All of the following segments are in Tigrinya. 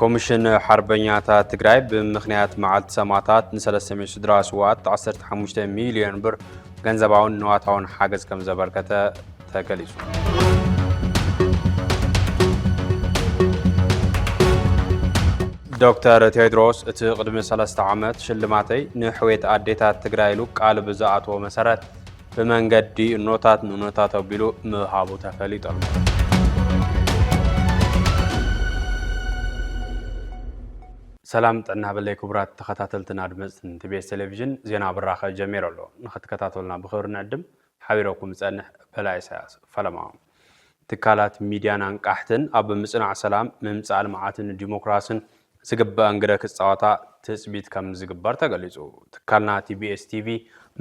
ኮሚሽን ሓርበኛታት ትግራይ ብምኽንያት መዓልቲ ሰማእታት ንሰለስተ ሚእቲ ስድራ ስውኣት ዓሰርተ ሓሙሽተ ሚሊዮን ብር ገንዘባውን ንዋታውን ሓገዝ ከም ዘበርከተ ተገሊጹ። ዶክተር ቴድሮስ እቲ ቅድሚ ሰለስተ ዓመት ሽልማተይ ንሕዌት ኣዴታት ትግራይ ኢሉ ቃል ብዝኣተዎ መሰረት ብመንገዲ እኖታት ንእኖታት ኣቢሉ ምሃቡ ተፈሊጡ ኣሎ። ሰላም ጥዕና በለይ ክቡራት ተኸታተልትን ኣድመፅትን ቲቤስ ቴሌቪዥን ዜና ብራኸ ጀሚሩ ኣሎ። ንኽትከታተሉና ብኽብሪ ንዕድም። ሓቢረኩም ዝፀንሕ በላይ ኢሳያስ ፈለማ። ትካላት ሚድያን ኣንቃሕትን ኣብ ምፅናዕ ሰላም፣ ምምፃእ ልምዓትን ዲሞክራስን ዝግበኣን ግደ ክፃወታ ትፅቢት ከምዝግበር ተገሊፁ። ትካልና ቲቢኤስ ቲቪ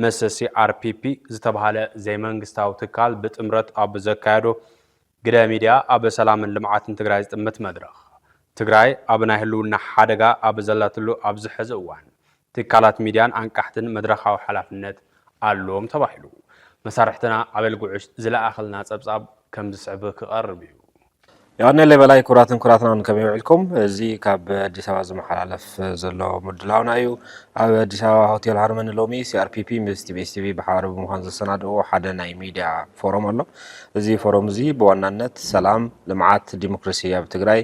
ምስ ሲኣርፒፒ ዝተብሃለ ዘይመንግስታዊ ትካል ብጥምረት ኣብ ዘካየዶ ግደ ሚድያ ኣብ ሰላምን ልምዓትን ትግራይ ዝጥምት መድረኽ ትግራይ ኣብ ናይ ህልውና ሓደጋ ኣብ ዘላትሉ ኣብዚ ሕዚ እዋን ትካላት ሚድያን ኣንቃሕትን መድረኻዊ ሓላፍነት ኣሎዎም ተባሂሉ። መሳርሕትና ኣበል ጉዕሽ ዝለኣኸልና ጸብጻብ ከም ዝስዕብ ክቐርብ እዩ። ዮሃነለይ በላይ ክቡራትን ክቡራትናን ከመይ ውዒልኩም እዚ ካብ ኣዲስ ኣበባ ዝመሓላለፍ ዘሎ ምድላውና እዩ ኣብ ኣዲስ ኣበባ ሆቴል ሃርመኒ ሎሚ ሲኣርፒፒ ምስ ቲቢኤስ ቲቪ ብሓባር ብምዃን ዘሰናድእዎ ሓደ ናይ ሚድያ ፎረም ኣሎ እዚ ፎረም እዚ ብዋናነት ሰላም ልምዓት ዲሞክራሲ ኣብ ትግራይ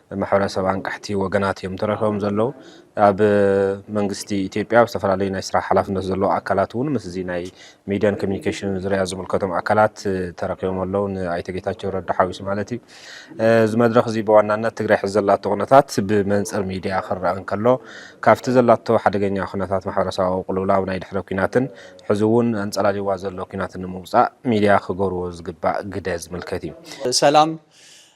ማሕበረሰብ ኣንቃሕቲ ወገናት እዮም ተረኪቦም ዘለዉ። ኣብ መንግስቲ ኢትዮጵያ ኣብ ዝተፈላለዩ ናይ ስራሕ ሓላፍነት ዘለዉ ኣካላት እውን ምስ እዚ ናይ ሚድያን ኮሚኒኬሽንን ዙርያ ዝምልከቶም ኣካላት ተረኪቦም ኣለዉ፣ ንኣይተ ጌታቸው ረዳ ሓዊሱ ማለት እዩ። እዚ መድረኽ እዚ ብዋናነት ትግራይ ሕዚ ዘላቶ ኩነታት ብመንፅር ሚድያ ክረኣ እንከሎ ካብቲ ዘላቶ ሓደገኛ ኩነታት ማሕበረሰባዊ ቅልውላው ናይ ድሕረ ኲናትን ሕዚ እውን ኣንፀላልይዋ ዘሎ ኲናትን ንምውፃእ ሚድያ ክገብርዎ ዝግባእ ግደ ዝምልከት እዩ። ሰላም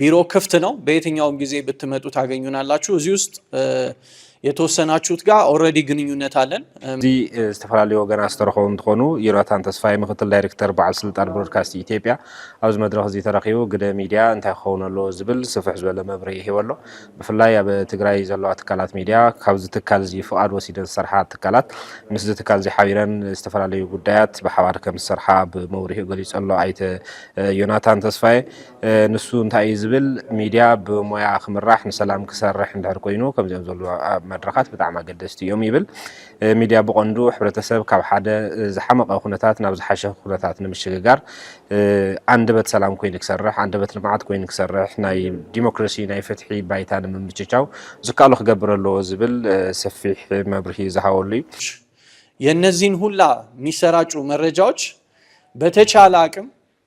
ቢሮ ክፍት ነው። በየትኛውም ጊዜ ብትመጡ ታገኙናላችሁ። እዚህ ውስጥ የተወሰናችሁት ጋር ኦልሬዲ ግንኙነት አለን። እዚ ዝተፈላለዩ ወገናት ዝተረኸቡ እንትኾኑ ዮናታን ተስፋይ ምክትል ዳይሬክተር በዓል ስልጣን ብሮድካስት ኢትዮጵያ ኣብዚ መድረኽ እዚ ተረኪቡ ግደ ሚድያ እንታይ ክኸውን ኣለዎ ዝብል ስፍሕ ዝበለ መብርሂ ሂቦ ኣሎ። ብፍላይ ኣብ ትግራይ ዘለዋ ትካላት ሚድያ ካብዚ ትካል እዚ ፍቓድ ወሲደን ዝሰርሓ ትካላት ምስዚ ትካል እዚ ሓቢረን ዝተፈላለዩ ጉዳያት ብሓባር ከም ዝሰርሓ ብመብርሂኡ ገሊፁ ኣሎ ኣይተ ዮናታን ተስፋይ። ንሱ እንታይ እዩ ዝብል ሚድያ ብሞያ ክምራሕ ንሰላም ክሰርሕ እንድሕር ኮይኑ ከምዚኦም ዘሉ መድረኻት ብጣዕሚ ኣገደስቲ እዮም ይብል። ሚድያ ብቐንዱ ሕብረተሰብ ካብ ሓደ ዝሓመቐ ኩነታት ናብ ዝሓሸ ኩነታት ንምሽግጋር ኣንደበት ሰላም ኮይኑ ክሰርሕ፣ ኣንደበት ልምዓት ኮይኑ ክሰርሕ፣ ናይ ዲሞክራሲ ናይ ፍትሒ ባይታ ንምምችቻው ዝከኣሎ ክገብር ኣለዎ ዝብል ሰፊሕ መብርሂ ዝሃበሉ እዩ። የነዚን ሁላ ሚሰራጩ መረጃዎች በተቻለ ኣቅም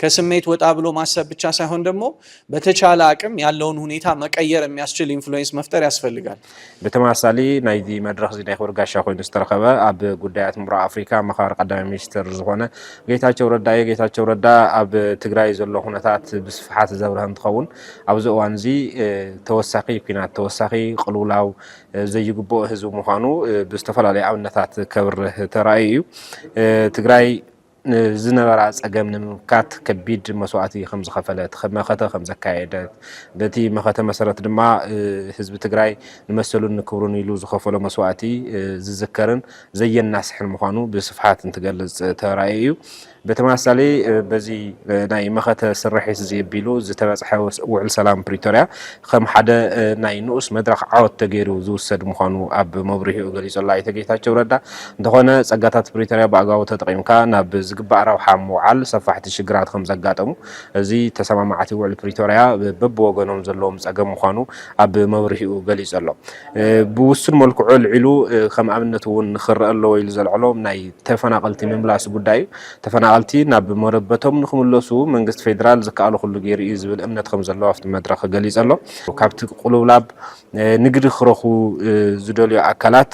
ከስሜት ወጣ ብሎ ማሰብ ብቻ ሳይሆን ደግሞ በተቻለ አቅም ያለውን ሁኔታ መቀየር የሚያስችል ኢንፍሉዌንስ መፍጠር ያስፈልጋል። ብተመሳሳሊ ናይዚ መድረኽ እዚ ናይ ክብሪ ጋሻ ኮይኑ ዝተረኸበ ኣብ ጉዳያት ምብራቅ ኣፍሪካ ኣማኻሪ ቀዳማይ ሚኒስትር ዝኾነ ጌታቸው ረዳ እዩ። ጌታቸው ረዳ ኣብ ትግራይ ዘሎ ኩነታት ብስፍሓት ዘብርሀ እንትኸውን ኣብዚ እዋን እዚ ተወሳኺ ኩናት ተወሳኺ ቅልውላው ዘይግብኦ ህዝቢ ምዃኑ ብዝተፈላለዩ ኣብነታት ከብርህ ተራእዩ እዩ። ትግራይ ንዝነበራ ፀገም ንምምካት ከቢድ መስዋእቲ ከምዝኸፈለት፣ መኸተ ከምዘካየደት፣ በቲ መኸተ መሰረት ድማ ህዝቢ ትግራይ ንመሰሉን ንክብሩን ኢሉ ዝኸፈሎ መስዋእቲ ዝዝከርን ዘየናስሕን ምዃኑ ብስፍሓት እንትገልፅ ተራእዩ እዩ። ብተመሳሳሊ በዚ ናይ መኸተ ስርሒት እዚ ኣቢሉ ዝተበፅሐ ውዕል ሰላም ፕሪቶርያ ከም ሓደ ናይ ንኡስ መድረኽ ዓወት ተገይሩ ዝውሰድ ምዃኑ ኣብ መብርሂኡ ገሊጹ'ሎ ኣይተ ጌታቸው ረዳ። እንተኾነ ጸጋታት ፕሪቶርያ ብኣግባቡ ተጠቒምካ ናብ ዝግባእ ረብሓ ኣብ ምውዓል ሰፋሕቲ ሽግራት ከምዘጋጠሙ፣ እዚ ተሰማማዕቲ ውዕል ፕሪቶርያ በብወገኖም ዘለዎም ጸገም ምዃኑ ኣብ መብርሂኡ ገሊጹ'ሎ። ብውሱን መልክዑ ኣልዒሉ ከም ኣብነት'ውን ክረኣ ኣለዎ ኢሉ ዘልዐሎም ናይ ተፈናቐልቲ ምምላስ ጉዳይ'ዩ። ተፈናቐልቲ ናብ መረበቶም ንክምለሱ መንግስቲ ፌዴራል ዝከኣሎ ኩሉ ገይሩ እዩ ዝብል እምነት ከምዘለዎ ኣብቲ መድረኽ ገሊፁ ኣሎ። ካብቲ ቅሉውላብ ንግዲ ክረኽቡ ዝደልዩ ኣካላት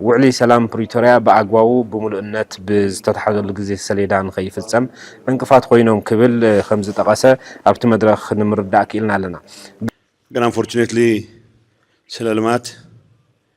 ውዕሊ ሰላም ፕሪቶርያ ብኣግባቡ ብሙሉእነት ብዝተትሓዘሉ ግዜ ሰሌዳ ንከይፍፀም ዕንቅፋት ኮይኖም ክብል ከምዝጠቐሰ ኣብቲ መድረኽ ንምርዳእ ክኢልና ኣለና። ግን ኣንፎርቹኔትሊ ስለ ልማት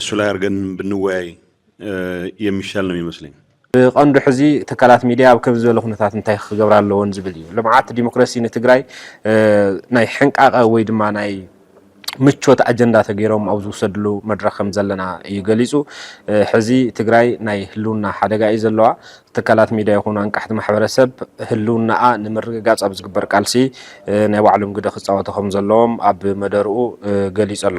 እሱ ላይ ኣርገን ብንወያይ የሚሻል ነው ሚመስለኝ። ብቐንዱ ሕዚ ትካላት ሚድያ ኣብ ከምዚ ዝበለ ኩነታት እንታይ ክገብራ ኣለዎን ዝብል እዩ። ልምዓት ዲሞክራሲ ንትግራይ ናይ ሕንቃቐ ወይ ድማ ናይ ምቾት ኣጀንዳ ተገይሮም ኣብ ዝውሰድሉ መድረኽ ከም ዘለና እዩ ገሊጹ። ሕዚ ትግራይ ናይ ህልውና ሓደጋ እዩ ዘለዋ። ትካላት ሚድያ ይኹኑ ኣንቃሕቲ ማሕበረሰብ ህልውናኣ ንምርግጋፅ ኣብ ዝግበር ቃልሲ ናይ ባዕሎም ግደ ክፃወቱ ከም ዘለዎም ኣብ መደርኡ ገሊጹ ኣሎ።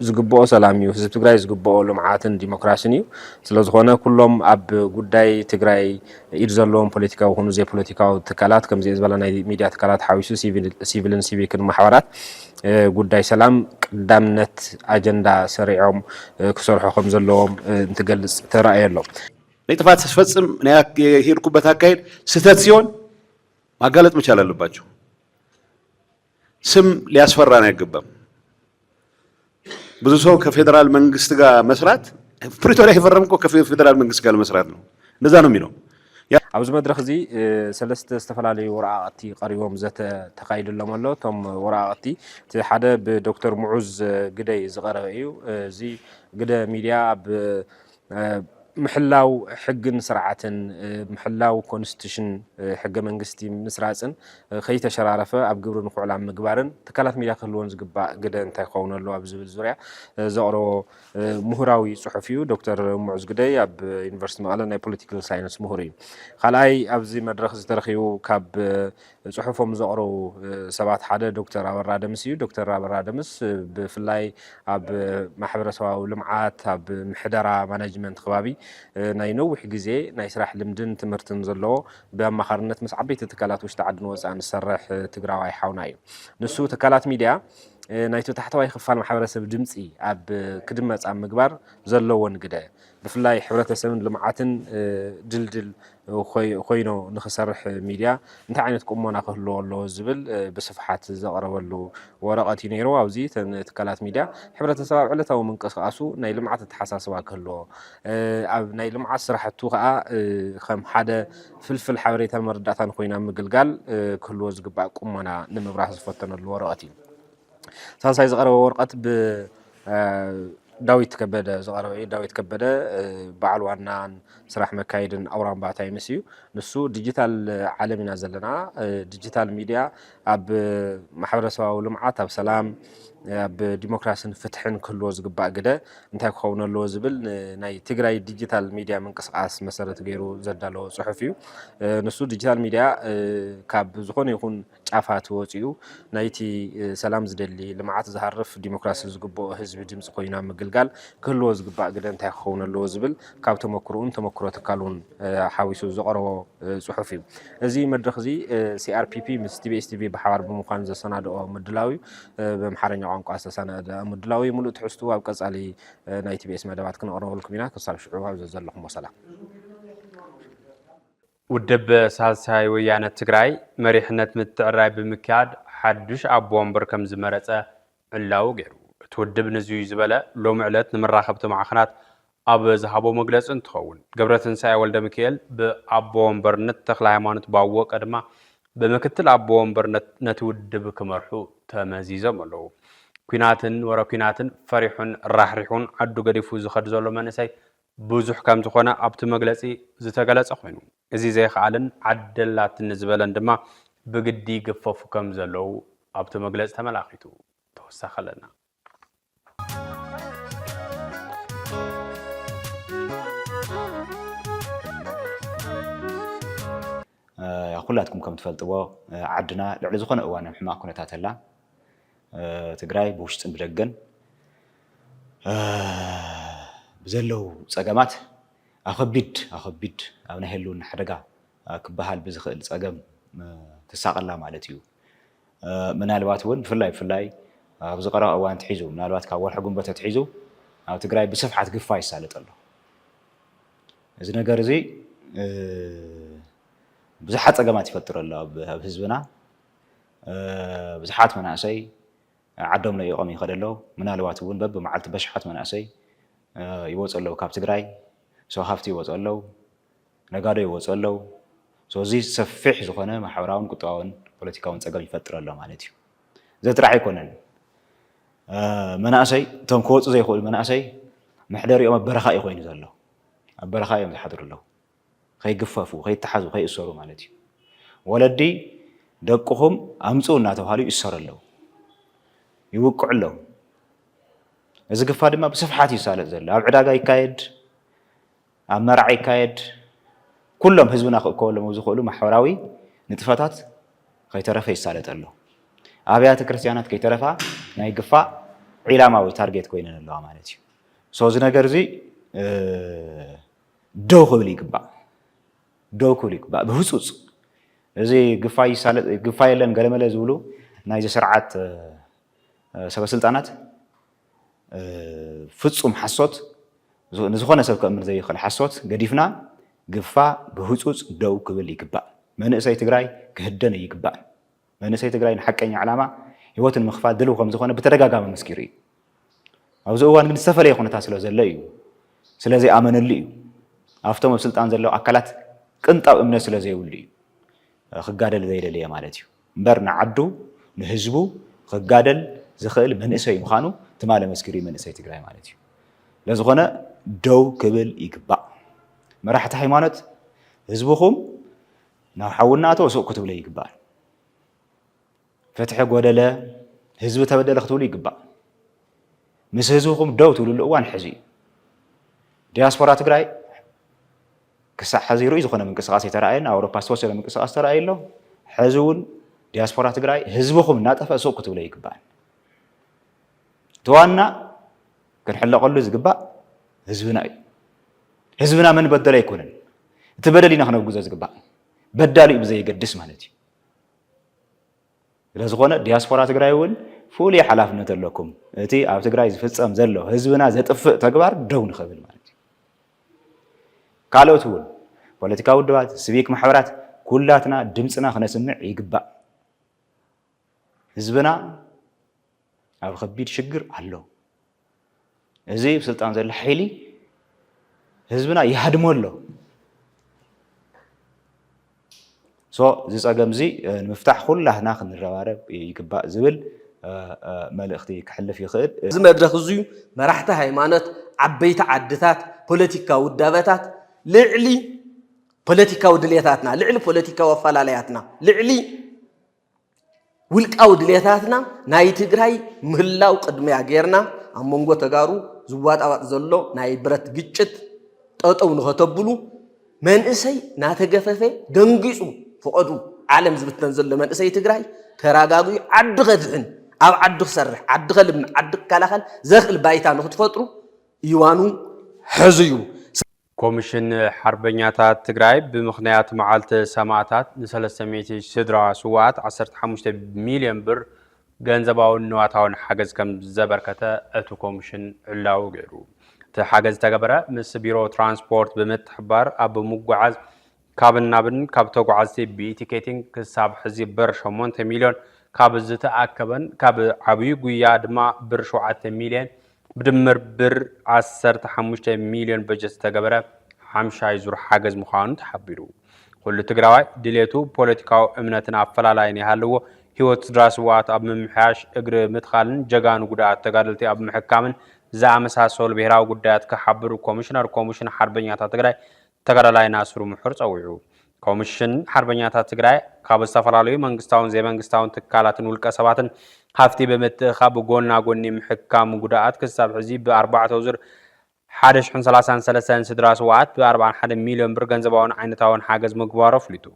ዝግብኦ ሰላም እዩ። ህዝቢ ትግራይ ዝግብኦ ልምዓትን ዲሞክራሲን እዩ። ስለዝኾነ ኩሎም ኣብ ጉዳይ ትግራይ ኢድ ዘለዎም ፖለቲካዊ ኩኑ ዘይፖለቲካዊ ትካላት ከምዚኤ ዝበላ ናይ ሚዲያ ትካላት ሓዊሱ ሲቪልን ሲቪክን ማሕበራት ጉዳይ ሰላም ቀዳምነት ኣጀንዳ ሰሪዖም ክሰርሑ ከምዘለዎም እንትገልፅ ተራእየ ኣሎ። ነይ ጥፋት ስፈጽም ነይ የሄድኩበት ኣካሄድ ስተት ሲሆን ማጋለጥ መቻል ኣለባቸው። ስም ሊያስፈራን አይገባም። ብዙ ሰው ከፌዴራል መንግስት ጋር መስራት ፕሪቶሪያ የፈረም እኮ ከፌዴራል መንግስት ጋር ለመስራት ነው። እንደዛ ነው የሚለው። ኣብዚ መድረክ እዚ ሰለስተ ዝተፈላለዩ ወረቃቅቲ ቀሪቦም ዘተ ተካይድሎም ኣሎ። እቶም ወረቃቅቲ እቲ ሓደ ብዶክተር ሙዑዝ ግደይ ዝቀረበ እዩ። እዚ ግደ ሚድያ ኣብ ምሕላው ሕግን ስርዓትን፣ ምሕላው ኮንስቲቱሽን፣ ሕገ መንግስቲ፣ ምስራፅን ከይተሸራረፈ ኣብ ግብሪ ንክውዕል ኣብ ምግባርን ትካላት ሚድያ ክህልወን ዝግባእ ግደ እንታይ ክኸውን ኣለዎ ኣብ ዝብል ዙርያ ዘቕረቦ ሙሁራዊ ፅሑፍ እዩ። ዶክተር ሙዑዝ ግደይ ኣብ ዩኒቨርስቲ መቐለ ናይ ፖለቲካል ሳይንስ ሙሁር እዩ። ካልኣይ ኣብዚ መድረኽ እዚ ተረኺቡ ካብ ጽሑፎም ዘቕረቡ ሰባት ሓደ ዶክተር ኣበራ ደምስ እዩ። ዶክተር ኣበራ ደምስ ብፍላይ ኣብ ማሕበረሰባዊ ልምዓት ኣብ ምሕደራ ማናጅመንት ከባቢ ናይ ነዊሕ ግዜ ናይ ስራሕ ልምድን ትምህርትን ዘለዎ ብኣማኻርነት ምስ ዓበይቲ ትካላት ውሽጢ ዓድን ወፃእን ዝሰርሕ ትግራዋይ ሓውና እዩ። ንሱ ትካላት ሚድያ ናይቲ ታሕተዋይ ክፋል ማሕበረሰብ ድምፂ ኣብ ክድመፅ ኣብ ምግባር ዘለዎን ግደ ብፍላይ ሕብረተሰብን ልምዓትን ድልድል ኾይኖ ንኽሰርሕ ሚድያ እንታይ ዓይነት ቁሞና ክህልዎ ኣለዎ ዝብል ብስፍሓት ዘቕረበሉ ወረቐት እዩ ነይሩ። ኣብዚ እተን ትካላት ሚድያ ሕብረተሰብ ኣብ ዕለታዊ ምንቅስቓሱ ናይ ልምዓት ኣተሓሳስባ ክህልዎ፣ ኣብ ናይ ልምዓት ስራሕቱ ከዓ ከም ሓደ ፍልፍል ሓበሬታን መረዳእታን ኾይና ምግልጋል ክህልዎ ዝግባእ ቁሞና ንምብራህ ዝፈተነሉ ወረቐት እዩ። ሳልሳይ ዝቐረበ ወረቐት ብዳዊት ከበደ ዝቐረበ እዩ። ዳዊት ከበደ በዓል ዋናን ስራሕ መካየድን ኣውራምባ ታይምስ እዩ። ንሱ ዲጂታል ዓለም ኢና ዘለና፣ ዲጂታል ሚድያ ኣብ ማሕበረሰባዊ ልምዓት፣ ኣብ ሰላም፣ ኣብ ዲሞክራሲን ፍትሕን ክህልዎ ዝግባእ ግደ እንታይ ክኸውን ኣለዎ ዝብል ናይ ትግራይ ዲጂታል ሚድያ ምንቅስቓስ መሰረት ገይሩ ዘዳለዎ ፅሑፍ እዩ። ንሱ ዲጂታል ሚድያ ካብ ዝኾነ ይኹን ጫፋት ወጺኡ ናይቲ ሰላም ዝደሊ፣ ልምዓት ዝሃርፍ፣ ዲሞክራሲ ዝግብኦ ህዝቢ ድምጺ ኮይኑ ኣብ ምግልጋል ክህልዎ ዝግባእ ግደ እንታይ ክኸውን ኣለዎ ዝብል ካብ ተመኩርኡን ተመኩሮ ትካሉን ሓዊሱ ዘቕረቦ ጽሑፍ እዩ። እዚ መድረኽ እዚ ሲኣርፒፒ ምስ ቲቢኤስ ቲቪ ብሓባር ብምዃን ዘሰናድኦ ምድላው እዩ። ብኣምሓርኛ ቋንቋ ዝተሰናድኣ ምድላው እዩ። ምሉእ ትሕዝትኡ ኣብ ቀጻሊ ናይ ቲቢኤስ መደባት ክነቕርበልኩም ኢና። ክሳብ ሽዑ ኣብ ዘዘለኹሞ ሰላም። ውድብ ሳልሳይ ወያነ ትግራይ መሪሕነት ምትዕርራይ ብምክያድ ሓዱሽ ኣቦ ወንበር ከምዝመረፀ ዕላዊ ገይሩ። እቲ ውድብ ንዙይ ዝበለ ሎሚ ዕለት ንመራኸብቲ ማዕኸናት ኣብ ዝሃቦ መግለፂ እንትኸውን ገብረትንሳኤ ወልደሚካኤል ብኣቦ ወንበርነት ተክለሃይማኖት ባወቀ ድማ ብምክትል ኣቦ ወንበርነት ነቲ ውድብ ክመርሑ ተመዚዞም ኣለው። ኲናትን ወረ ኲናትን ፈሪሑን ራሕሪሑን ዓዱ ገዲፉ ዝኸድ ዘሎ መንእሰይ ብዙሕ ከም ዝኾነ ኣብቲ መግለጺ ዝተገለጸ ኮይኑ፣ እዚ ዘይክኣልን ዓደላትኒ ዝበለን ድማ ብግዲ ይግፈፉ ከም ዘለዉ ኣብቲ መግለጺ ተመላኺቱ። ተወሳኺ ኣለና። ኩላትኩም ከምትፈልጥዎ ዓድና ልዕሊ ዝኾነ እዋን ኣብ ሕማቕ ኩነታት ኣላ። ትግራይ ብውሽጥን ብደገን ብዘለው ፀገማት ኣብ ከቢድ ኣብ ከቢድ ኣብ ናይ ህልውና ሓደጋ ክበሃል ብዝኽእል ፀገም ትሳቐ ኣላ ማለት እዩ። ምናልባት እውን ብፍላይ ብፍላይ ኣብዚ ቀረባ እዋን ኣትሒዙ ምናልባት ካብ ወርሒ ግንቦት ኣትሒዙ ኣብ ትግራይ ብስፍሓት ግፋ ይሳለጥ ኣሎ። እዚ ነገር እዚ ብዙሓት ፀገማት ይፈጥር ኣሎ ኣብ ህዝብና ብዙሓት መናእሰይ ዓዶም ለኢቖም ይኸደ ኣለዉ ምናልባት እውን በብመዓልቲ በሽሓት መናእሰይ ይወፁ ኣለዉ ካብ ትግራይ ሰው ሃፍቲ ይወፁ ኣለዉ ነጋዶ ይወፁ ኣለዉ እዚ ሰፊሕ ዝኾነ ማሕበራውን ቁጠባውን ፖለቲካውን ፀገም ይፈጥር ኣሎ ማለት እዩ እዚ ጥራሕ ኣይኮነን መናእሰይ እቶም ክወፁ ዘይኽእሉ መናእሰይ መሕደሪኦም ኣብ በረኻ እዩ ኮይኑ ዘሎ ኣብ በረኻ እዮም ዝሓድሩ ኣለዉ። ከይግፈፉ፣ ከይተሓዙ፣ ከይእሰሩ ማለት እዩ። ወለዲ ደቅኹም ኣምፅኡ እናተብሃሉ ይእሰሩ ኣለዉ። ይውቅዑ ኣለዉ። እዚ ግፋ ድማ ብስፍሓት እዩ ዝሳለጥ ዘሎ። ኣብ ዕዳጋ ይካየድ፣ ኣብ መርዓ ይካየድ፣ ኩሎም ህዝብና ክእከበሎም ኣብ ዝኽእሉ ማሕበራዊ ንጥፈታት ከይተረፈ ይሳለጥ ኣሎ። ኣብያተ ክርስቲያናት ከይተረፋ ናይ ግፋ ዒላማ ወይ ታርጌት ኮይነን ኣለዋ ማለት እዩ። ሶ እዚ ነገር እዚ ደው ክብል ይግባእ ደው ክብል ይግባእ ብህፁፅ እዚ ግፋይ ይሳለጥ ግፋይ የለን ገለመለ ዝብሉ ናይዚ ስርዓት ሰበስልጣናት ፍፁም ሓሶት ንዝኾነ ሰብ ከእምን ዘይኽእል ሓሶት ገዲፍና ግፋ ብህፁፅ ደው ክብል ይግባእ። መንእሰይ ትግራይ ክህደን ይግባእ። መንእሰይ ትግራይ ንሓቀኛ ዕላማ ህይወቱ ንምኽፋል ድልው ከምዝኾነ ብተደጋጋሚ ኣመስኪሩ እዩ። ኣብዚ እዋን ግን ዝተፈለየ ኩነታት ስለዘሎ እዩ። ስለዘይኣመነሉ እዩ። ኣብቶም ኣብ ስልጣን ዘለዉ ኣካላት ቅንጣብ እምነት ስለዘይብሉ እዩ ክጋደል ዘይደለየ ማለት እዩ። እምበር ንዓዱ ንህዝቡ ክጋደል ዝኽእል መንእሰይ ምዃኑ ትማሊ ኣመስኪሩ እዩ መንእሰይ ትግራይ ማለት እዩ። ስለዝኾነ ደው ክብል ይግባእ። መራሕቲ ሃይማኖት ህዝብኹም ናብ ሓውና ኣቶ ሱቅ ክትብሉ ይግባእ ፍትሒ ጎደለ ህዝቢ ተበደለ ክትብሉ ይግባእ ምስ ህዝብኹም ደው ትብልሉ እዋን ሕዚ እዩ ዲያስፖራ ትግራይ ክሳዕ ሕዚ ርኡይ ዝኾነ ምንቅስቃስ የተረኣየን ኣውሮፓ ዝተወሰነ ምንቅስቃስ ተረኣዩ ኣሎ ሕዚ እውን ዲያስፖራ ትግራይ ህዝብኹም እናጠፈ ሱቅ ክትብለ ይግባእ እቲ ዋና ክንሕለቐሉ ዝግባእ ህዝብና እዩ። ህዝብና መን በደሎ ኣይኮነን። እቲ በደል ኢና ክነውግዞ ዝግባእ። በዳሊኡ ብዘየገድስ ማለት እዩ። ስለዝኾነ ዲያስፖራ ትግራይ እውን ፍሉይ ሓላፍነት ኣለኩም። እቲ ኣብ ትግራይ ዝፍፀም ዘሎ ህዝብና ዘጥፍእ ተግባር ደው ንኽብል ማለት እዩ። ካልኦት እውን ፖለቲካዊ ውድባት፣ ስቪክ ማሕበራት ኩላትና ድምፅና ክነስምዕ ይግባእ። ህዝብና ኣብ ኸቢድ ሽግር ኣሎ እዚ ብ ስልጣን ዘሎ ሓይሊ ህዝብና ይሃድሞ ኣሎ ሶ እዚ ፀገም እዚ ንምፍታሕ ኩላትና ክንረባረብ ይግባእ ዝብል መልእኽቲ ክሕልፍ ይኽእል። እዚ መድረኽ እዙይ መራሕቲ ሃይማኖት፣ ዓበይቲ ዓድታት፣ ፖለቲካዊ ውዳበታት ልዕሊ ፖለቲካዊ ድልየታትና፣ ልዕሊ ፖለቲካዊ ኣፈላላያትና፣ ልዕሊ ውልቃዊ ድሌታትና ናይ ትግራይ ምህላው ቅድሚያ ጌርና ኣብ መንጎ ተጋሩ ዝዋጣዋጥ ዘሎ ናይ ብረት ግጭት ጠጠው ንኸተብሉ መንእሰይ ናተገፈፈ ደንጊፁ ፍቐዱ ዓለም ዝብተን ዘሎ መንእሰይ ትግራይ ተራጋጉዩ ዓዲ ከድሕን ኣብ ዓዱ ክሰርሕ ዓዲ ከልምዕ ዓዲ ክከላኸል ዘኽእል ባይታ ንክትፈጥሩ እዋኑ ሕዙ እዩ። ኮሚሽን ሓርበኛታት ትግራይ ብምኽንያት መዓልቲ ሰማእታት ንሰለስተ ሚእቲ ስድራ ስዋኣት ዓሰርተ ሓሙሽተ ሚልዮን ብር ገንዘባውን ንዋታውን ሓገዝ ከም ዘበርከተ እቲ ኮሚሽን ዕላዊ ገይሩ። እቲ ሓገዝ ዝተገበረ ምስ ቢሮ ትራንስፖርት ብምትሕብባር ኣብ ምጉዓዝ ካብን ናብን ካብ ተጓዓዝቲ ብኢቲኬቲንግ ክሳብ ሕዚ ብር ሸሞንተ ሚልዮን ካብ ዝተኣከበን ካብ ዓብዩ ጉያ ድማ ብር ሸውዓተ ሚልየን ብድምር ብር ዓሰርተ ሓሙሽተ ሚልዮን በጀት ዝተገበረ ሓምሻይ ዙር ሓገዝ ምዃኑ ተሓቢሩ። ኩሉ ትግራዋይ ድሌቱ ፖለቲካዊ እምነትን ኣፈላላይን ይሃልዎ ህይወት ስድራ ስውኣት ኣብ ምምሕያሽ፣ እግሪ ምትካልን ጀጋኑ ጉድኣት ተጋደልቲ ኣብ ምሕካምን ዝኣመሳሰሉ ብሄራዊ ጉዳያት ክሓብሩ ኮሚሽነር ኮሚሽን ሓርበኛታት ትግራይ ተጋዳላይ ናስሩ ሙሑር ፀዊዑ። ኮምሽን ሓርበኛታት ትግራይ ካብ ዝተፈላለዩ መንግስታውን ዘይመንግስታውን ትካላትን ውልቀ ሰባትን ሃፍቲ ብምትእኻብ ጎና ጎኒ ምሕካም ጉዳኣት ክሳብ ሕዚ ብ ኣርባዕተው ዙር ሓደ ሽሕን ሰላሳን ሰለስተን ንስድራ ስውኣት ብ ኣርብዓን ሓደን ሚልዮን ብር ገንዘባውን ዓይነታውን ሓገዝ ምግባሩ ኣፍሊጡ።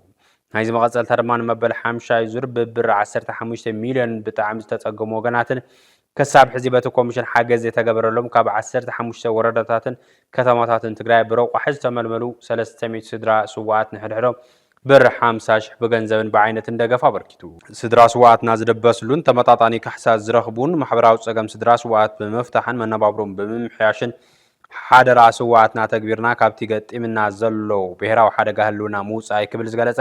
ናይዚ መቐፀልታ ድማ ንመበል ሓምሻይ ዙር ብ ብር ዓሰርተ ሓሙሽተ ሚልዮን ብጣዕሚ ዝተፀገሙ ወገናትን ከሳብ ሕዚ በቲ ኮሚሽን ሓገዝ ዘይተገበረሎም ካብ ዓሰርተ ሓሙሽተ ወረዳታትን ከተማታትን ትግራይ ብረቋሒ ዝተመልመሉ ሰለስተ ሚእቲ ስድራ ስውኣት ንሕድሕዶም ብር ሓምሳ ሽሕ ብገንዘብን ብዓይነትን ደገፍ ኣበርኪቱ። ስድራ ስውኣትና ዝድበስሉን ተመጣጣኒ ካሕሳ ዝረኽቡን ማሕበራዊ ፀገም ስድራ ስውኣት ብምፍታሕን መነባብሮኦም ብምምሕያሽን ሓደራ ስውኣትና ተግቢርና ካብቲ ገጢምና ዘሎ ብሄራዊ ሓደጋ ህልውና ምውፃእ ክብል ዝገለፀ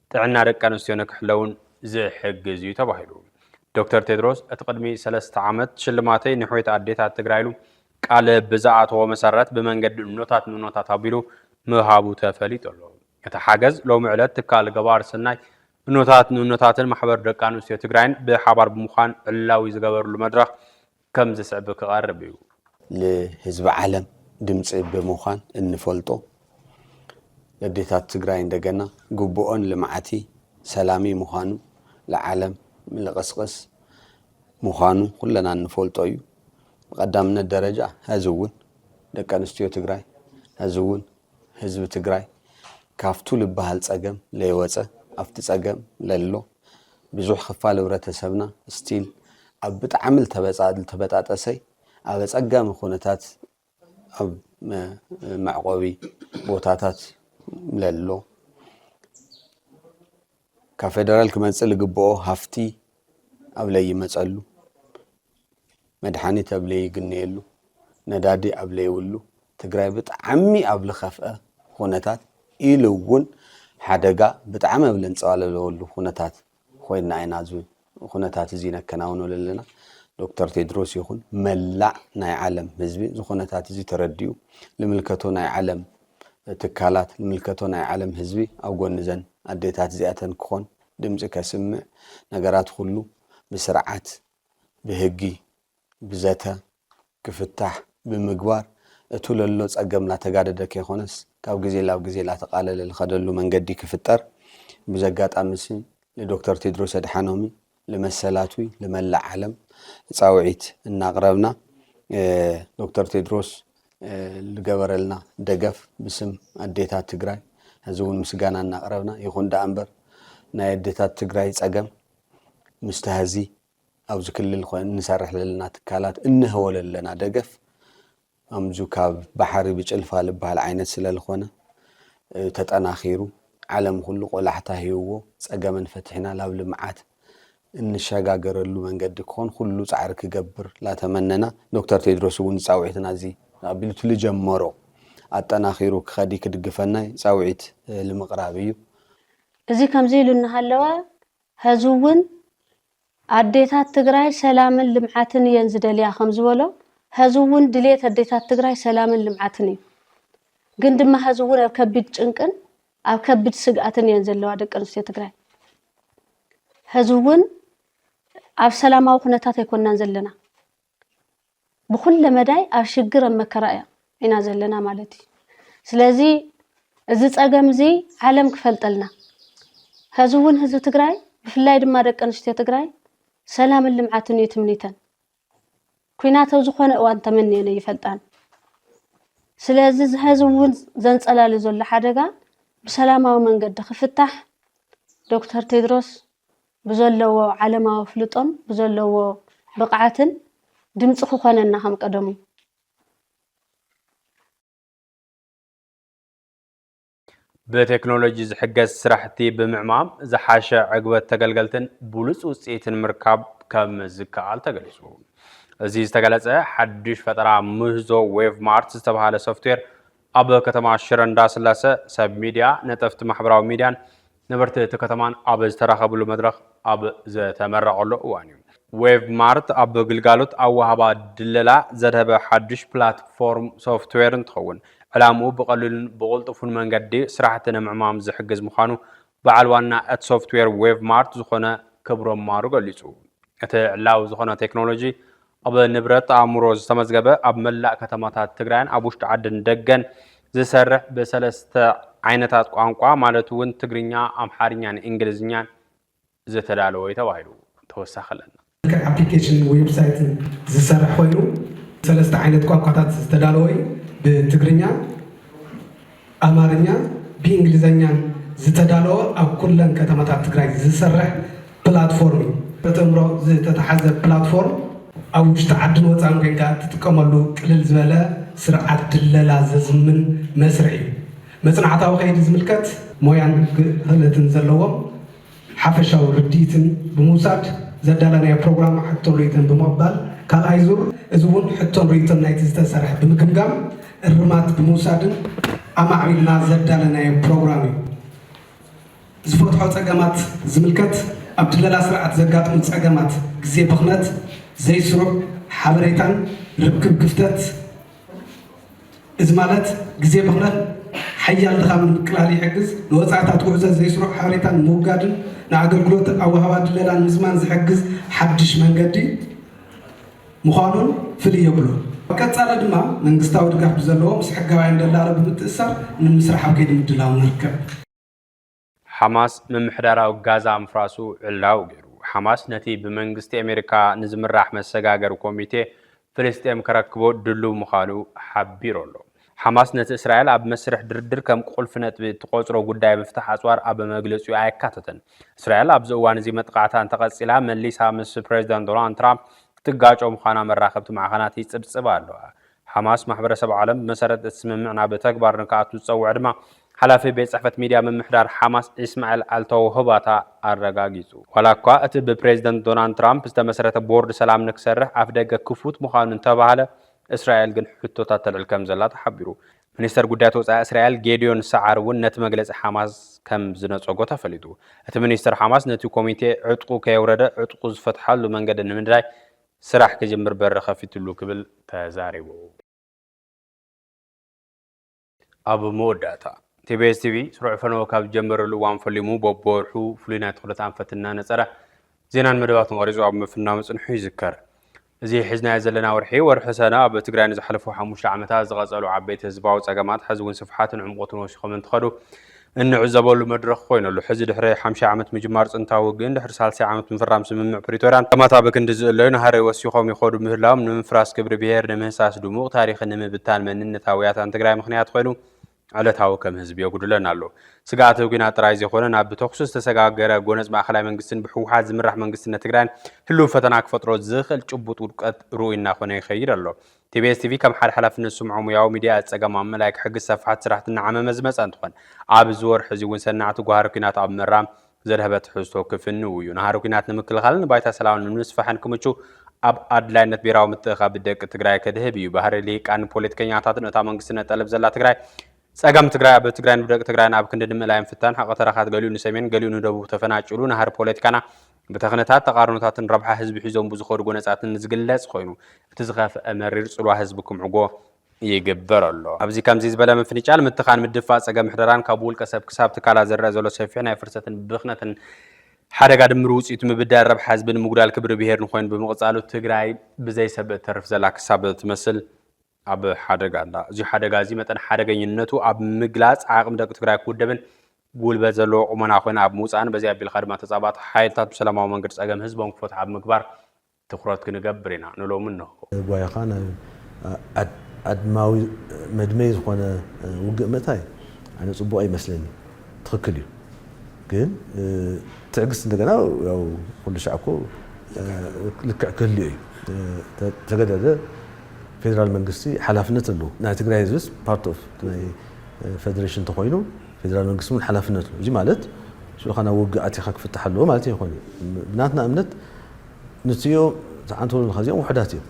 ጥዕና ደቂ ኣንስትዮ ንክሕለውን ዝሕግዝ እዩ ተባሂሉ። ዶክተር ቴድሮስ እቲ ቅድሚ ሰለስተ ዓመት ሽልማተይ ንሕውየት ኣዴታት ትግራይ ኢሉ ቃል ብዝኣተዎ መሰረት ብመንገዲ እኖታት ንእኖታት ኣቢሉ ምሃቡ ተፈሊጡ ኣሎ። እቲ ሓገዝ ሎሚ ዕለት ትካል ገባር ሰናይ እኖታት ንእኖታትን ማሕበር ደቂ ኣንስትዮ ትግራይን ብሓባር ብምዃን ዕላዊ ዝገበርሉ መድረኽ ከም ዝስዕብ ክቐርብ እዩ። ንህዝቢ ዓለም ድምፂ ብምዃን እንፈልጦ ኣዴታት ትግራይ እንደገና ግቡኦን ልምዓቲ ሰላሚ ምዃኑ ልዓለም ልቕስቕስ ምዃኑ ኩለና እንፈልጦ እዩ። ብቐዳምነት ደረጃ ሀዚ እውን ደቂ ኣንስትዮ ትግራይ ሀዚ እውን ህዝቢ ትግራይ ካፍቱ ልባሃል ፀገም ለይወፀ ኣፍቲ ፀገም ለሎ ብዙሕ ኽፋል ህብረተሰብና ስቲል ኣብ ብጣዕሚ ልተበጣጠሰይ ኣብ ኣፀጋሚ ኹነታት ኣብ መዕቆቢ ቦታታት ለሎ ካብ ፌደራል ክመፅእ ልግብኦ ሃፍቲ ኣብ ለይመፀሉ፣ መድሓኒት ኣብ ለይግነየሉ፣ ነዳዲ ኣብ ለይብሉ፣ ትግራይ ብጣዕሚ ኣብ ልኸፍኣ ኹነታት ኢሉ እውን ሓደጋ ብጣዕሚ ኣብ ለንፀባለለወሉ ኹነታት ኾይና ኢና ኹነታት እዚ ነከናውኖ ለለና ዶክተር ቴድሮስ ይኹን መላእ ናይ ዓለም ህዝቢ እዚ ኹነታት እዚ ተረዲኡ ልምልከቶ ናይ ዓለም ትካላት ልምልከቶ ናይ ዓለም ህዝቢ ኣብ ጎኒ ዘን ኣዴታት እዚኣተን ክኾን ድምፂ ከስምዕ ነገራት ኹሉ ብስርዓት ብህጊ ብዘተ ክፍታሕ ብምግባር እቱ ለሎ ፀገም ላተጋደደ ከይኾነስ ካብ ግዜ ላብ ግዜ ላተቃለለ ልኸደሉ መንገዲ ክፍጠር ብዚ ኣጋጣሚ እዚ ልዶክተር ቴድሮስ ኣድሓኖሚ ልመሰላቱ ልመላእ ዓለም ፃውዒት እናቅረብና ዶክተር ቴድሮስ ልገበረልና ደገፍ ብስም ኣዴታት ትግራይ ሕዚ እውን ምስጋና እናቅረብና ይኹን ዳኣ እምበር ናይ ኣዴታት ትግራይ ፀገም ምስቲ ሀዚ ኣብዚ ክልል ኮይን ንሰርሕ ለለና ትካላት እንህቦ ለለና ደገፍ ኣምዙ ካብ ባሕሪ ብጭልፋ ልባሃል ዓይነት ስለ ልኾነ ተጠናኺሩ ዓለም ኩሉ ቆላሕታ ሂብዎ ጸገመን ፈቲሕና ላብ ልምዓት እንሸጋገረሉ መንገዲ ክኾን ኩሉ ጻዕሪ ክገብር ላተመነና ዶክተር ቴድሮስ እውን ጻውዒትና እዚ ኣቢሉ እቲ ልጀመሮ ኣጠናኺሩ ክኸዲ ክድግፈናይ ጻውዒት ልምቕራብ እዩ። እዚ ከምዚ ኢሉ እናሃለወ ሐዚ ውን ኣዴታት ትግራይ ሰላምን ልምዓትን እየን ዝደልያ ከምዝበሎ ሐዚ ውን ድልየት ኣዴታት ትግራይ ሰላምን ልምዓትን እዩ። ግን ድማ ሐዚ ውን ኣብ ከቢድ ጭንቅን ኣብ ከቢድ ስግኣትን እየን ዘለዋ ደቂ ኣንስትዮ ትግራይ። ሐዚ ውን ኣብ ሰላማዊ ኩነታት ኣይኮናን ዘለና። ብኩለ መዳይ ኣብ ሽግር ኣብ መከራ እያ ኢና ዘለና ማለት እዩ ስለዚ እዚ ፀገም እዚ ዓለም ክፈልጠልና ሐዚ እውን ህዝቢ ትግራይ ብፍላይ ድማ ደቂ ኣንስትዮ ትግራይ ሰላምን ልምዓትን እዩ ትምኒተን ኩናት ኣብ ዝኾነ እዋን ተመንየን ኣይፈልጣን ስለዚ እዚ ሐዚ እውን ዘንፀላሉ ዘሎ ሓደጋ ብሰላማዊ መንገዲ ክፍታሕ ዶክተር ቴድሮስ ብዘለዎ ዓለማዊ ኣፍልጦን ብዘለዎ ብቕዓትን ድምፂ ክኾነና ከም ቀደሙ። ብቴክኖሎጂ ዝሕገዝ ስራሕቲ ብምዕማም ዝሓሸ ዕግበት ተገልገልትን ብሉፅ ውፅኢትን ምርካብ ከም ዝከኣል ተገሊፁ። እዚ ዝተገለፀ ሓዱሽ ፈጠራ ምህዞ ዌቭ ማርት ዝተብሃለ ሶፍትዌር ኣብ ከተማ ሽረ እንዳስላሰ ሰብ ሚዲያ፣ ነጠፍቲ ማሕበራዊ ሚዲያን ነበርቲ እቲ ከተማን ኣብ ዝተራኸብሉ መድረኽ ኣብ ዝተመረቐሉ እዋን እዩ። ዌቭ ማርት ኣብ ግልጋሎት ኣወሃህባ ድለላ ዘድሀበ ሓዱሽ ፕላትፎርም ሶፍትዌር እንትኸውን ዕላምኡ ብቐሊሉን ብቕልጡፉን መንገዲ ስራሕቲ ንምዕማም ዝሕግዝ ምዃኑ በዓል ዋና እቲ ሶፍትዌር ዌቭ ማርት ዝኾነ ክብሮም ማሩ ገሊፁ። እቲ ዕላዊ ዝኾነ ቴክኖሎጂ ኣብ ንብረት ኣእምሮ ዝተመዝገበ ኣብ መላእ ከተማታት ትግራይን ኣብ ውሽጢ ዓድን ደገን ዝሰርሕ ብሰለስተ ዓይነታት ቋንቋ ማለት እውን ትግርኛ፣ ኣምሓርኛን እንግሊዝኛን ዝተዳለወ እዩ ተባሂሉ። ተወሳኺ ኣለና። ብመልክዕ ኣፕሊኬሽንን ዌብሳይትን ዝሰርሕ ኮይኑ ብሰለስተ ዓይነት ቋንቋታት ዝተዳለወ እዩ። ብትግርኛ፣ ኣማርኛን ብኢንግሊዘኛን ዝተዳለወ ኣብ ኩለን ከተማታት ትግራይ ዝስርሕ ፕላትፎርም እዩ። በተምሮ ዝተታሓዘ ፕላትፎርም ኣብ ውሽጢ ዓድን ወፃእን ኮይንካ እትጥቀመሉ ቅልል ዝበለ ስርዓት ድለላ ዘዝምን መስርሕ እዩ። መፅናዕታዊ ከይዲ ዝምልከት ሞያን ክእለትን ዘለዎም ሓፈሻዊ ርድኢትን ብምውሳድ ዘዳለናዮ ፕሮግራም ሕቶን ርኢቶን ብምቕባል ካልኣይ ዙር እዚ እውን ሕቶን ርኢቶን ናይቲ ዝተሰርሐ ብምግምጋም እርማት ብምውሳድን ኣማዕቢልና ዘዳለናዮ ፕሮግራም እዩ። ዝፈትሖ ፀገማት ዝምልከት ኣብ ድለላ ስርዓት ዘጋጥሙ ፀገማት ግዜ ብኽነት፣ ዘይስሩዕ ሓበሬታን ርክብ ክፍተት፣ እዚ ማለት ግዜ ብኽነት፣ ሓያል ድኻምን ምቅላል ይሕግዝ፣ ንወጻኢታት ጉዕዞ ዘይስሩዕ ሓበሬታ ንምውጋድን ንኣገልግሎት ኣወሃባ ድለላ ንምዝማን ዝሕግዝ ሓድሽ መንገዲ ምዃኑን ፍልይ የብሉን። ኣብ ቀጻሊ ድማ መንግስታዊ ድጋፍ ብዘለዎ ምስ ሕጋውያን ደላሎ ብምትእስሳር ንምስራሕ ኣብ ከይዲ ምድላው ንርከብ። ሓማስ ምምሕዳራዊ ጋዛ ምፍራሱ ዕላዊ ገይሩ። ሓማስ ነቲ ብመንግስቲ ኣሜሪካ ንዝምራሕ መሰጋገሪ ኮሚቴ ፍልስጤም ከረክቦ ድሉው ምዃኑ ሓቢሩ ኣሎ። ሓማስ ነቲ እስራኤል ኣብ መስርሕ ድርድር ከም ቁልፊ ነጥቢ እትቖጽሮ ጉዳይ ምፍታሕ ኣጽዋር ኣብ መግለጺኡ ኣየካተተን። እስራኤል ኣብዚ እዋን እዚ መጥቓዕታ እንተቐጺላ መሊሳ ምስ ፕረዚደንት ዶናልድ ትራምፕ ክትጋጮ ምዃና መራኸብቲ ማዕኸናት ይጽብጽባ ኣለዋ። ሓማስ ማሕበረሰብ ዓለም ብመሰረት እቲ ስምምዕ ናብ ተግባር ንክኣቱ ዝፀውዐ ድማ ሓላፊ ቤት ፅሕፈት ሚድያ ምምሕዳር ሓማስ ኢስማዒል ኣልተውህባታ ኣረጋጊፁ። ዋላ እኳ እቲ ብፕሬዝደንት ዶናልድ ትራምፕ ዝተመስረተ ቦርድ ሰላም ንክሰርሕ ኣፍደገ ክፉት ምዃኑ እንተበሃለ እስራኤል ግን ሕቶታት ተልዕል ከምዘላ ተሓቢሩ። ሚኒስተር ጉዳያት ወፃኢ እስራኤል ጌዲዮን ሰዓር እውን ነቲ መግለፂ ሓማስ ከም ዝነፀጎ ተፈሊጡ። እቲ ሚኒስተር ሓማስ ነቲ ኮሚቴ ዕጥቁ ከየውረደ ዕጥቁ ዝፈትሓሉ መንገዲ ንምድላይ ስራሕ ክጅምር በሪ ከፊትሉ ክብል ተዛሪቡ። ኣብ መወዳእታ፣ ቲቢኤስ ቲቪ ስሩዕ ፈነወ ካብ ዝጀመረሉ እዋን ፈሊሙ በብወርሑ ፍሉይ ናይ ትኹረት ኣንፈት እናነፀረ ዜናን መደባትን ቐሪፁ ኣብ ምፍናው ምፅንሑ ይዝከር። እዚ ሒዝናዮ ዘለና ወርሒ፣ ወርሒ ሰነ፣ ኣብ ትግራይ ንዝሓለፉ ሓሙሽተ ዓመታት ዝቐፀሉ ዓበይቲ ህዝባዊ ፀገማት ሕዚ እውን ስፍሓትን ዕምቖትን ወሲኾም እንትኸዱ እንዕዘበሉ መድረኽ ኮይኑ'ሎ። ሕዚ ድሕሪ ሓምሻይ ዓመት ምጅማር ፅንታዊ ውግእን ድሕሪ ሳልሳይ ዓመት ምፍራም ስምምዕ ፕሪቶርያን ፀማታ ብክንዲ ዝእለዩ ናህሪ ወሲኾም ይኸዱ ምህላዎም ንምፍራስ ክብሪ ብሄር፣ ንምህሳስ ድሙቕ ታሪኽን ንምብታን መንነታዊ ያታን ትግራይ ምኽንያት ኾይኑ ዕለታዊ ከም ህዝቢ የጉድለና ኣሎ። ስግኣተ ኲናት ጥራይ ዘይኮነ ናብ ብተኹሲ ዝተሰጋገረ ጎነፅ ማእኸላይ መንግስትን ብህወሓት ዝምራሕ መንግስትነት ትግራይን ህልው ፈተና ክፈጥሮ ዝኽእል ጭቡጥ ውድቀት ርኡይ እናኾነ ይኸይድ ኣሎ። ቲቢኤስ ቲቪ ከም ሓደ ሓላፍነት ዝስምዖ ሙያዊ ሚዲያ እቲ ፀገም ኣብ ምእላይ ክሕግዝ ሰፋሕቲ ስራሕቲ እናዓመመ ዝመፀ እንትኾን ኣብ እዚ ወርሒ እዚ እውን ሰናዕቲ ጓህሪ ኩናት ኣብ ምእራም ዘድሀበ ትሕዝቶ ክፍንው እዩ። ናህሪ ኩናት ንምክልኻልን ንባይታ ሰላም ንምስፋሕን ክምቹ ኣብ ኣድላይነት ብሄራዊ ምትእኽኻብ ደቂ ትግራይ ከድህብ እዩ። ባህሪ ልሂቃንን ፖለቲከኛታትን እታ መንግስቲ ነጠልብ ዘላ ትግራይ ፀገም ትግራይ ኣብ ትግራይን ብደቂ ትግራይን ኣብ ክንዲ ንምእላይ ምፍታን ሓቒ ተረካት ገሊኡ ንሰሜን ገሊኡ ንደቡብ ተፈናጭሉ ናህሪ ፖለቲካና ብተክነታት ተቓርኖታትን ረብሓ ህዝቢ ሒዞም ብዝኸዱ ጎነፃትን ዝግለፅ ኾይኑ እቲ ዝኸፍኣ መሪር ፅልዋ ህዝቢ ክምዕጎ ይግበር ኣሎ። ኣብዚ ከምዚ ዝበለ ምፍንጫል፣ ምትኻን፣ ምድፍፋእ ፀገም ምሕደራን ካብ ውልቀ ሰብ ክሳብ ትካላት ዝረኣ ዘሎ ሰፊሕ ናይ ፍርሰትን ብኽነትን ሓደጋ ድምር ውፅኢቱ ምብዳል ረብሓ ህዝብን ምጉዳል ክብሪ ብሄርን ኾይኑ ብምቕፃሉ ትግራይ ብዘይ ሰብ እተርፍ ዘላ ክሳብ ትመስል ኣብ ሓደጋ ኣላ። እዚ ሓደጋ እዚ መጠን ሓደገኝነቱ ኣብ ምግላፅ ዓቕሚ ደቂ ትግራይ ክውደብን ጉልበት ዘለዎ ቁመና ኮይነ ኣብ ምውፃእን በዚ ኣቢልካ ድማ ተፃባእቲ ሓይልታት ብሰላማዊ መንገዲ ፀገም ህዝቦም ክፈትሑ ኣብ ምግባር ትኹረት ክንገብር ኢና ንሎሚ እንሆ። ጓይኻ ናብ ኣድማዊ መድመይ ዝኾነ ውግእ ምእታይ ኣነ ፅቡቕ ኣይመስለንን። ትክክል እዩ ግን ትዕግስት እንደገና ያው ኩሉ ሻዕ እኮ ልክዕ ክህልዮ እዩ ተገደደ ፌደራል መንግስቲ ሓላፍነት ኣለዎ ናይ ትግራይ ህዝብስ ፓርት ኦፍ ናይ ፌደሬሽን ተኮይኑ ፌደራል መንግስቲ እውን ሓላፍነት ኣለዎ እዚ ማለት ሽዑካ ናብ ውግእ ኣቲካ ክፍታሕ ኣለዎ ማለት ይኮነ ብናትና እምነት ንትዮ ተዓንተሉ ኣለካ እዚኦም ውሕዳት እዮም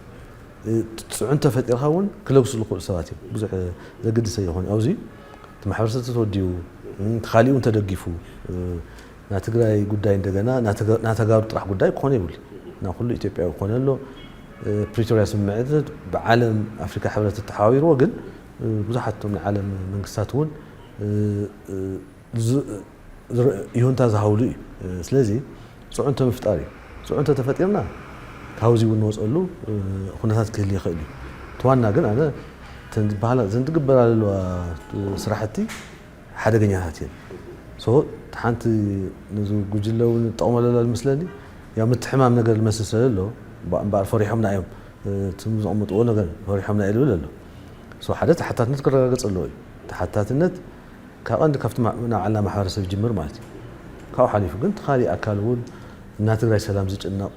ፅዕንቶ ፈጢርካ እውን ክለግሱ ዝኽእሉ ሰባት እዮም ብዙሕ ዘገድሰ ይኮነ ኣብዚ እቲ ማሕበረሰብ ተተወዲቡ እቲ ካሊእ እውን ተደጊፉ ናይ ትግራይ ጉዳይ እንደገና ናይ ተጋሩ ጥራሕ ጉዳይ ክኾነ ይብሉ ናይ ኩሉ ኢትዮጵያዊ ክኾነ ኣሎ ፕሪቶሪያ ስምምዕነት ብዓለም ኣፍሪካ ሕብረት ተተሓባቢርዎ ግን ብዙሓት እቶም ናይ ዓለም መንግስታት እውን ይሁንታ ዝሃብሉ እዩ። ስለዚ ፅዕንቶ ምፍጣር እዩ። ፅዕንቶ ተፈጢርና ካብዚ እውን ንወፀሉ ኩነታት ክህሊ ይኽእል እዩ። እቲ ዋና ግን ኣነ እተን ዝበሃላ እዘን ዝግበራ ዘለዋ ስራሕቲ ሓደገኛታት እየን። ሶ እቲ ሓንቲ ነዚ ጉጅለ እውን ይጠቕመሉ ኣሎ ዝመስለኒ ያው ምትሕማም ነገር ዝመስል ስለዘሎ እምበኣር ፈሪሖምና እዮም እትም ዘቕምጥዎ ነገር ፈሪሖምና እዩ ዝብል ኣሎ። ሶ ሓደ ተሓታትነት ክረጋገፅ ኣለዎ እዩ። ተሓታትነት ካብ ቀንዲ ካብቲ ናብ ዓላ ማሕበረሰብ ይጅምር ማለት እዩ። ካብኡ ሓሊፉ ግን እቲ ካሊእ ኣካል እውን ናትግራይ ሰላም ዝጭነቕ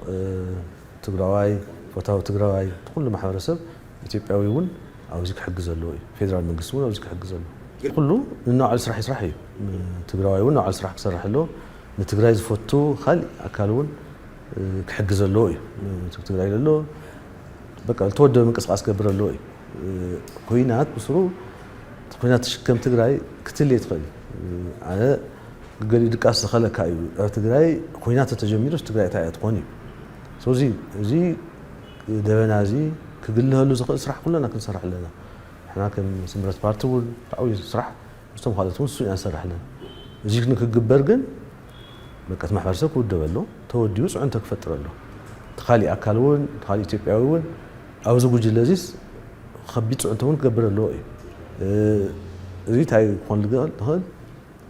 ትግራዋይ ፈታዊ ትግራዋይ እቲ ኩሉ ማሕበረሰብ ኢትዮጵያዊ እውን ኣብዚ ክሕግዝ ኣለዎ እዩ። ፌደራል መንግስቲ እውን ኣብዚ ክሕግዝ ኣለዎ። እቲ ኩሉ ንናባዕሉ ስራሕ ይስራሕ እዩ። ትግራዋይ እውን ናባዕሉ ስራሕ ክሰርሕ ኣለዎ። ንትግራይ ዝፈቱ ካሊእ ኣካል እውን ክሕግዝ ኣለዎ እዩ። እቲ ትግራይ ዘሎ በቃ ዝተወደበ ምንቅስቓስ ክገብር ኣለዎ እዩ። ኩናት ብስሩ ኩናት ትሽከም ትግራይ ክትል እየ ትኽእል ኣነ ገሊኡ ድቃስ ዝኸለካ እዩ ኣብ ትግራይ ኩናት ተተጀሚሩስ ትግራይ እታይ እያ ትኾን እዩ ስለዚ እዚ ደበና እዚ ክግልሀሉ ዝኽእል ስራሕ ኩለና ክንሰርሕ ኣለና ንሕና ከም ስምረት ፓርቲ እውን ዓብይ ስራሕ ምስቶም ካልኦት እውን ንሱ ኢና ንሰርሕ ኣለና እዚ ንክግበር ግን በቃ እቲ ማሕበረሰብ ክውደበሉ ተወዲቡ ፅዕንቶ ክፈጥረሉ እቲ ካሊእ ኣካል እውን እቲ ካሊእ ኢትዮጵያዊ እውን ኣብዚ ጉጅለ እዚስ ከቢድ ፅዕንቶ እውን ክገብር ኣለዎ እዩ እዚ እንታይ ክኾን ዝኽእል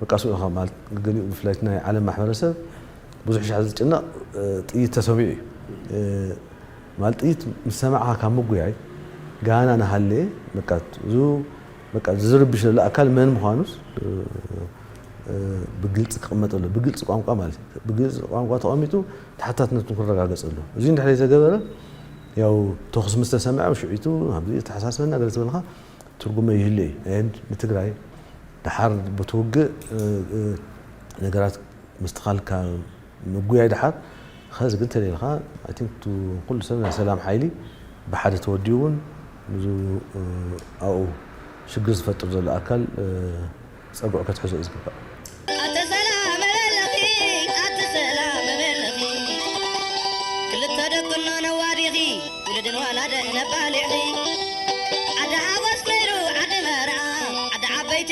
በቃ ስኡ ኢኻ ማለት ገሊኡ ብፍላይ ናይ ዓለም ማሕበረሰብ ብዙሕ ሻዕ ዝጭነቕ ጥይት ተሰሚዑ እዩ ማለት ጥይት ምስ ሰማዕካ ካብ ምጉያይ ጋና ናሃለየ በቃ እዚ በቃ ዝርብሽ ዘሎ ኣካል መን ምዃኑስ ብግልፂ ክቕመጥ ኣለዎ። ብግልፂ ቋንቋ ማለት እዩ። ብግልፂ ቋንቋ ተቐሚጡ ተሓታትነቱ ክረጋገፅ ኣለዎ። እዙይ እንድሕር ዘይተገበረ ያው ተኹሲ ምስ ተሰምዐ ሽዑቱ ኣብዚ የተሓሳስበና ገለ ተበልካ ትርጉም ኣይህሉ እዩ። ኤንድ ንትግራይ ደሓር ብቲ ውግእ ነገራት ምስትኻል ካብ ምጉያይ ደሓር ኸዚ ግን ተለይልኻ i think to ኹሉ ሰብ ናይ ሰላም ሓይሊ ብሓደ ተወዲቡ እውን ንዙ ኣብኡ ሽግር ዝፈጥር ዘሎ ኣካል ፀግዑ ከትሕዞ እዩ ዝግባእ። ኣተ ሰላም እበለኺ ኣቲ ሰላም እበለኺ ክልተ ደቅኖ ነዋዲኺ ውሉድን ወላደን ነባሊዕኺ ዓዲ ሓጎስ ከይዱ ዓዲ መርዓ ዓዲ ዓበይቲ